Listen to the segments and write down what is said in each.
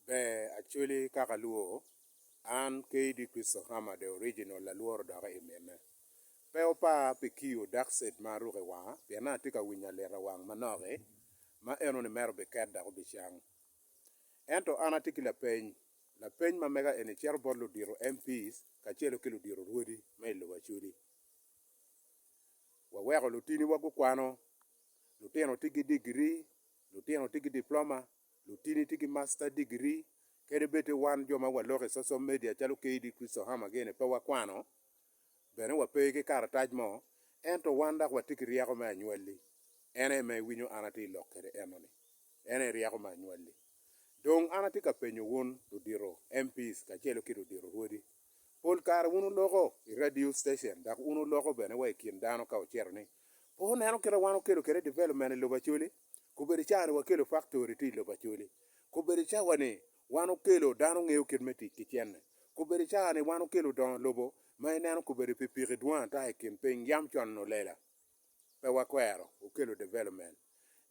Ber Acholi kaka luo, an KD Christo Khama the original lalworo doki i mine. Pe wupar pi kiyo dark set ma aruko i wanga pien an atye ka winyo alita wang manok-ki ma eno ni mere obiket dok obicang. Ento an atye ki lapeny, lapeny ma mega eni cito bot ludito MPs kacelo ki ludito rwodi ma i lobo Acholi. Waweko lutiniwa gukwano, lutino tye ki digiri, lutino tye ki diploma, lutini tye ki master degree, kadi bed ni wan jo ma waloko i social media calo KD Christo Hammer gene pe wakwano, bene wape ki karatac mo, ento wan dok watye ki ryeko me anywalli. En aye ma iwinyo an atye lok kwede enoni. En aye ryeko me anywalli. Dong an atye ka penyo wun ludito MPs kacelo ki ludito rwodi, Pol kare wun wuloko i radio station dok wun wuloko bene wa i kin dano ka wucito ni, Pe wuneno kit ma wan wukelo kwede development i lobo Acholi? Kobedo ca ni wakelo faktori tye i lobo Acholi. Kobedo ca wa ni wan wukelo dano ngeyo kit me tic ki cente. Kobedo ca ni wan wukelo dongo lobo ma ineno kobedo pikipiki dwong ata i kin piny, yam conno lela. Pe wakwero wukelo development.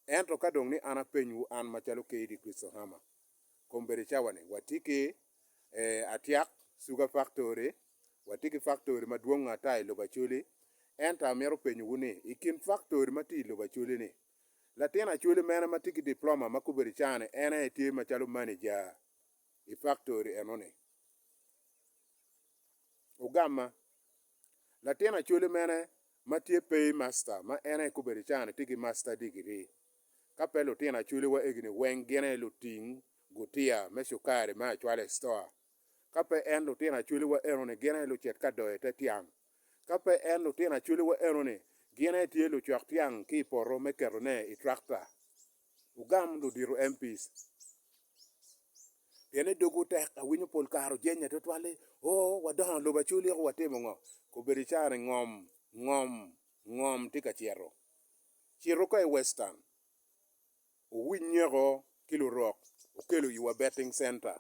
Ento ka dong ni an apenywu, an macalo KD. Christohama, Kombeddi cawani watye ki Atiak Sugar Factory, watye ki faktori madwong ata i lobo Acholi. Ento amito penyowu ni, i kin faktori ma tye i lobo Acholi-ni, latin Acholi mene ma tye ki diploma ma kobeddi cani en aye tye macalo maneja i faktori enoni? Ogamma. Latin Acholi mene ma tye Pay Master ma en aye kobedi cani tye ki Master Degree. Ka pe lutino Acholi wa egini weng gin aye luting gutiya me cukari me acwala i Stoa. Ka pe en lutino Acholi wa enoni gin aye lucit ka doyo ite tyang. Ka pe en lutino Acholi wa enoni gin aye tye lucok tyang ki i poto me keto ne i Tractor. Wugam ludito MPs pien ni dogwu tek. Awinyo pol kare ojenya tutwal ni, Oo, wadongo lobo aculiko watimo ngo? Kobedo icani ngom, ngom, ngom tye ka cito. Cito ka i Western, wuwiny nyeko ki lurok, wukelo iwa betting center.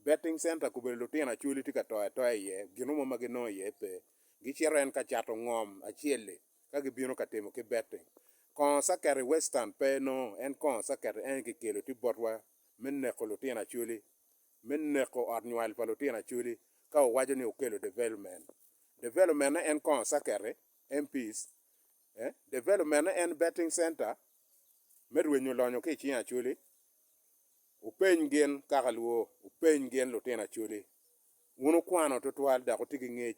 Betting center kobedo lutino acholi tye ka to atoya iye, gin mo ma ginongo iye pe. Gicito en ka cato ngom acel-li ka gibino ka timo ki betting. Kongo caket i Western pe nongo en kongo caket eni kikelo tye botwa me neko lutino acholi, me neko ot nywal pa lutino acholi ka wuwaco ni wukelo development. Development-ne en kongo caket-ti, MPs, eh, development-ne en betting center me rwenyo lonyo ki i cing acholi, Wupeny gin kaka lwor, wupeny gin lutino Acholi. Wun wukwano tutwal dok wutye ki ngec,